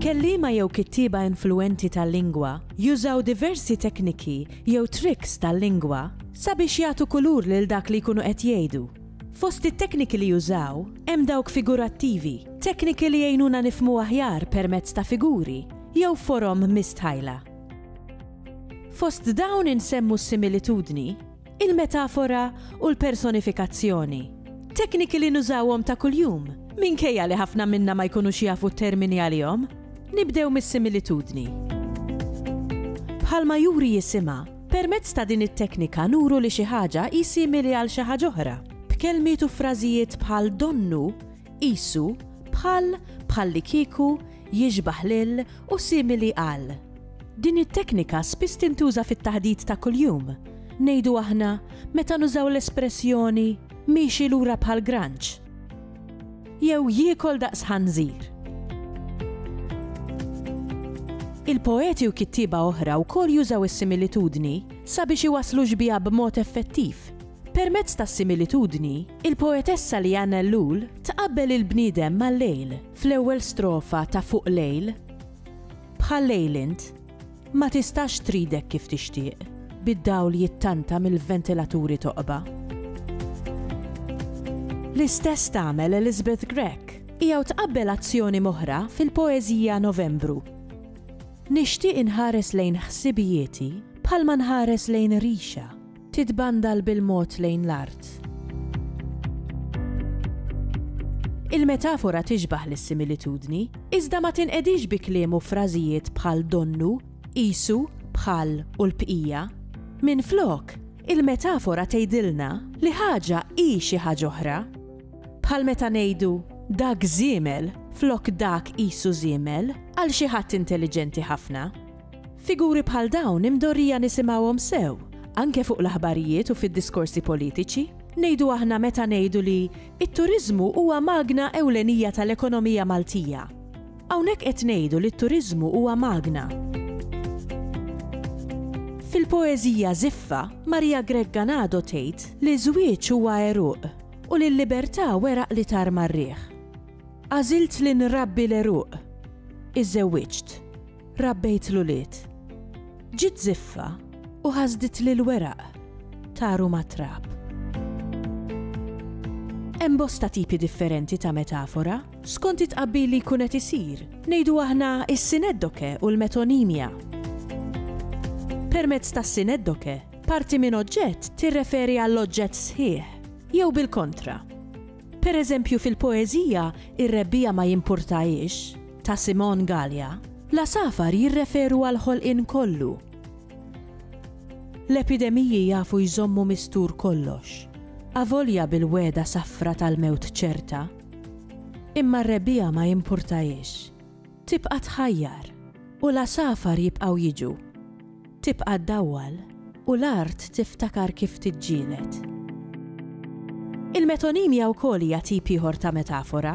Kelliema jew kittieba influwenti tal-lingwa jużaw diversi tekniki jew tricks tal-lingwa sabiex jagħtu kulur lil dak li jkunu qed jgħidu. Fost it-tekniki li jużaw, hemm dawk figurattivi, tekniki li jgħinuna nifhmu aħjar permezz ta' figuri jew forom mistħajla. Fost dawn insemmu s-similitudni, il-metafora u l-personifikazzjoni, tekniki li nużawhom ta' kuljum minkejja li ħafna minna ma jkunux jafu t-termini għalihom. Nibdew mis-similitudni. Bħalma juri jisimha, Permezz ta' din it-teknika nuru li xi ħaġa hi simili għal xi ħaġa oħra, b'kelmiet u frażijiet bħal donnu, qisu, bħal, bħallikieku, jixbah lil u simili għal. Din it-teknika spiss tintuża fit-taħdit ta' kuljum, ngħidu aħna, meta nużaw l-espressjoni miexi lura bħal granċ. Jew jiekol daqs ħanżir. Il-poeti u kittieba oħra wkoll jużaw is-similitudni sabiex iwasslu xbieha b'mod effettiv. Permezz tas-similitudni, il-poetessa Leanne Ellul tqabbel il-bniedem mal-lejl fl-ewwel strofa ta' Fuq Lejl, Bħal lejl int, Ma tistax tridek kif tixtieq, bid-dawl jittanta mill-ventilaturi toqba. L-istess tagħmel Elizabeth Grech. Hija u tqabbel azzjoni m'oħra fil-poeżija Novembru. Nixtieq inħares lejn ħsibijieti bħalma nħares lejn rixa. Titbandal bil-mod lejn l-art. Il-metafora tixbah lis-similitudni, iżda ma tinqedix bi kliem u frażijiet bħal donnu, qisu, bħal u l-bqija. Minflok, il-metafora tgħidilna li ħaġa hi xi ħaġa oħra. Bħal meta ngħidu, dak żiemel flok dak qisu żiemel, għal xi ħadd intelliġenti ħafna. Figuri bħal dawn imdorrija nisimgħuhom sew, anke fuq l-aħbarijiet u fid-diskorsi politiċi. Ngħidu aħna meta ngħidu li t-turiżmu huwa magna ewlenija tal-ekonomija Maltija. Hawnhekk qed ngħidu li t-turiżmu huwa magna. Fil-poeżija Żiffa, Maria Grech Ganado tgħid li ż-żwieġ huwa għeruq u li l-libertà weraq li tar mar-riħ. Għażilt li nrabbi l-għeruq. Iżżewwiġt. rabbejt l-ulied. Ġiet żiffa u ħasditli l-weraq, taru mat-trab. Hemm bosta tipi differenti ta' metafora, skont it-tqabbil li jkun qed isir, ngħidu aħna s-sineddoke u l-metonimja. Permezz tas-sineddoke, parti minn oġġett tirreferi għall-oġġett sħiħ, jew bil-kontra. Pereżempju fil-poeżija ir-rebbiegħa ma jimpurtahiex, ta' Simon Galea, l-għasafar jirreferu għall-ħolqien kollu. L-epidemiji jafu jżommu mistur kollox, avolja bil-wegħda safra tal-mewt ċerta. Imma r-rebbiegħa ma jimpurtahiex. Tibqa' tħajjar, u l-għasafar jibqgħu jiġu. Tibqa' ddawwal u l-art tiftakar kif tiġġieled. Il-metonimja wkoll hija tip ieħor ta' metafora.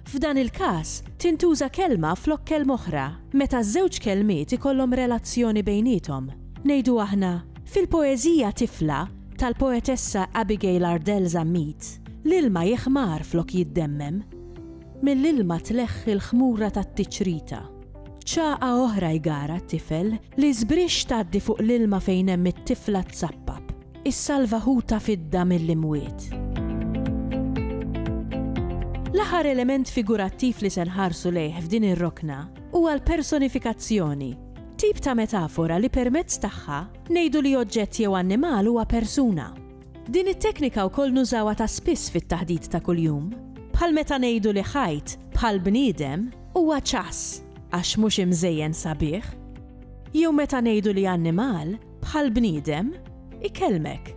F'dan il-każ, tintuża kelma flok kelma oħra meta ż-żewġ kelmiet ikollhom relazzjoni bejniethom. Ngħidu aħna, Fil-poeżija Tifla, tal-poetessa Abigail Ardell Zammit, l-ilma jiħmar flok jiddemmem. Mill-ilma tleħħi l-ħmura tat-tiċrita. Ċagħa oħra jgara t-tifel L-isbrix tgħaddi fuq l-ilma fejn hemm it-tifla tsappab. Issalva ħuta fidda mill-imwiet. L-aħħar element figurattiv li se nħarsu lejh f'din ir-rokna huwa l-personifikazzjoni, tip ta' metafora li permezz tagħha ngħidu li oġġett jew annimal huwa persuna. Din it-teknika wkoll nużawha ta' spiss fit-taħdit ta' kuljum, bħal meta ngħidu li ħajt, bħal bniedem, huwa ċass għax mhux imżejjen sabiħ. Jew meta ngħidu li annimal, bħal bniedem, ikellmek.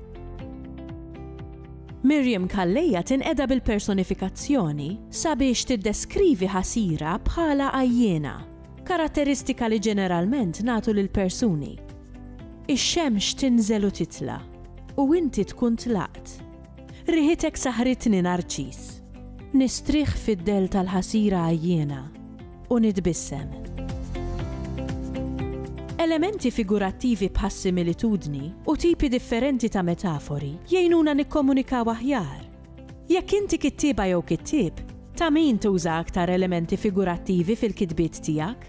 Miriam Calleja tinqeda bil-personifikazzjoni sabiex tiddeskrivi ħasira bħala għajjiena, karatteristika li ġeneralment nagħtu lill-persuni. Ix-xemx tinżel u titla'. U inti tkun tlaqt. Riħitek saħħritni Narċiż. Nistrieħ fid-dell tal-ħasira għajjiena u nitbissem. Elementi figurattivi bħas-similitudni u tipi differenti ta' metafori jgħinuna nikkomunikaw aħjar. Jekk inti kittieba jew kittieb, ta' min tuża aktar elementi figurattivi fil-kitbiet tiegħek?